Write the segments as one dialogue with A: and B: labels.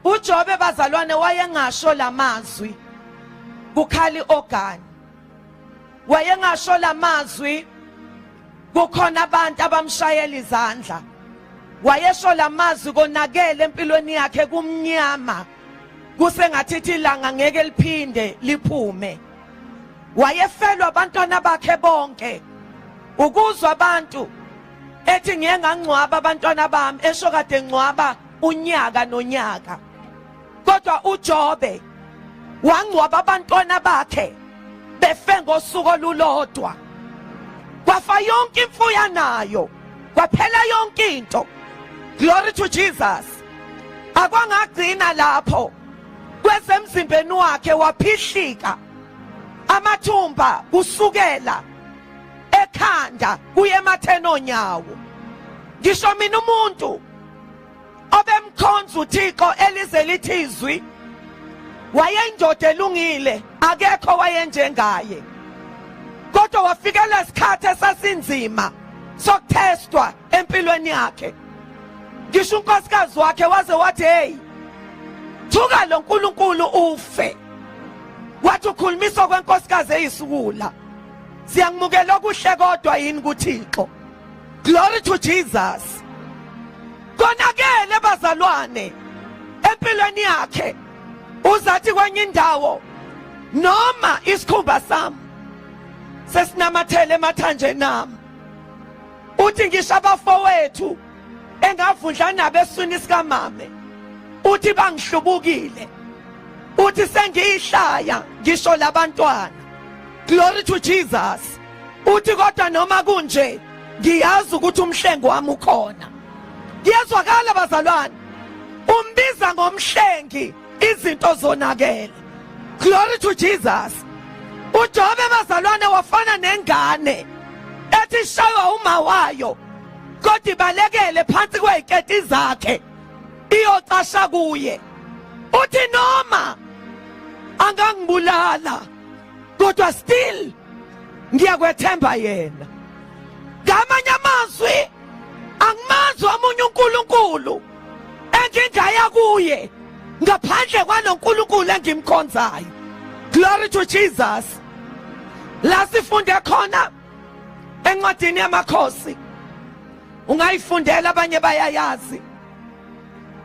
A: uJobe bazalwane wayengasho lamazwi kukhali ogani wayengasho lamazwi kukhona abantu abamshayela izandla wayesho lamazwi konakele empilweni yakhe kumnyama kusengathithi ilanga ngeke liphinde liphume wayefelwa abantwana bakhe bonke ukuzwa abantu ethi ngiye ngangcwaba abantwana bami esho kade ngcwaba unyaka nonyaka kodwa uJobe wangcwaba abantwana bakhe befe ngosuku olulodwa kwafa yonke imfuyo anayo kwaphela yonke into glory to Jesus akwangagcina lapho kwezemzimbeni wakhe waphihlika amathumba kusukela ekhanda kuye ematheni onyawo ngisho mina umuntu obemkhonza uThixo elize lithi izwi wayeyindoda elungile akekho wayenjengaye kodwa wafika lesikhathi esasinzima sokuthestwa empilweni yakhe ngisho unkosikazi wakhe waze wathi hey thuka lo nkulunkulu ufe wathi ukhulumisa kwenkosikazi eyisukula Siyangimukela okuhle kodwa yini kuThixo. Glory to Jesus. Konakele bazalwane empilweni yakhe uzathi kwenye indawo noma isikhumba sami sesinamathele emathanjeni nami uthi ngisho abafowethu engavundla nabo eswini sikamame uthi bangihlubukile uthi sengiyihlaya ngisho labantwana glory to Jesus uthi kodwa noma kunje ngiyazi ukuthi umhlengo wami ukhona kuyezwakala bazalwane umbiza ngomhlengi izinto zonakele glory to Jesus uJobe bazalwane wafana nengane ethi shaywa uma wayo kodwa ibalekele phansi kweziketi zakhe iyocasha kuye uthi noma angangibulala kodwa still ngiyakwethemba yena ngamanye amazwi angimazi omunye uNkulunkulu engingaya kuye ngaphandle kwanoNkulunkulu engimkhonzayo glory to Jesus la sifunde khona encwadini yamakhosi ungayifundela abanye bayayazi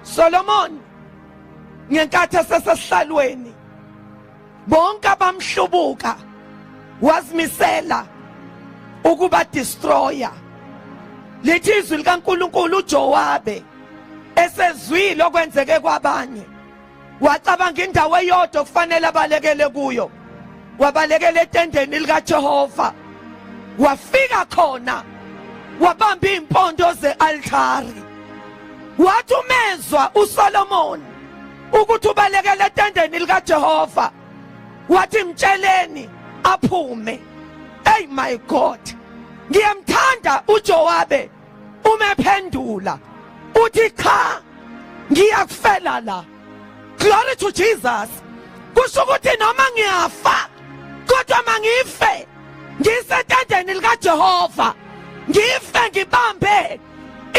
A: Solomon ngenkathi esesesihlalweni bonke abamhlubuka wazimisela ukuba destroyer lithi izwi likaNkuluNkulu uJowabe esezwile okwenzeke kwabanye wacabanga indawo eyodwa kufanele abalekele kuyo wabalekela etendeni likaJehova wafika khona wabamba impondo zealtari wathi umezwa uSolomon ukuthi ubalekele etendeni likaJehova wathi mtsheleni aphume hey my god ngiyamthanda uJowabe umephendula uthi cha ngiyakufela la glory to Jesus kusho ukuthi noma ngiyafa kodwa mangife ngisetendeni likaJehova ngife ngibambe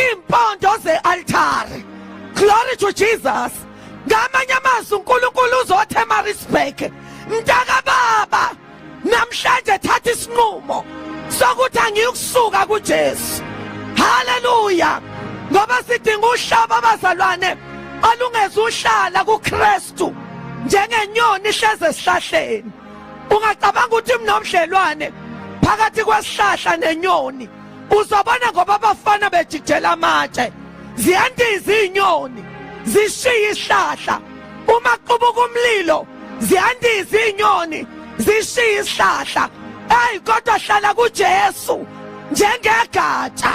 A: iimpondo ze-altari glory to jesus ngamanye amazwi unkulunkulu uzothe emarisburg mntakababa namhlanje thatha isinqumo sokuthi angiyukusuka kujesu haleluya ngoba sidinga uhlaba abazalwane olungezuhlala kuKristu njengenyoni ihleze esihlahleni ungacabanga ukuthi mnomdlelwane phakathi kwesihlahla nenyoni uzobona ngoba abafana bejijela amatshe ziyandiza izinyoni zishiya isihlahla uma qubuka umlilo ziyandiza izinyoni zishiya isihlahla hey kodwa hlala kuJesu njengegatsha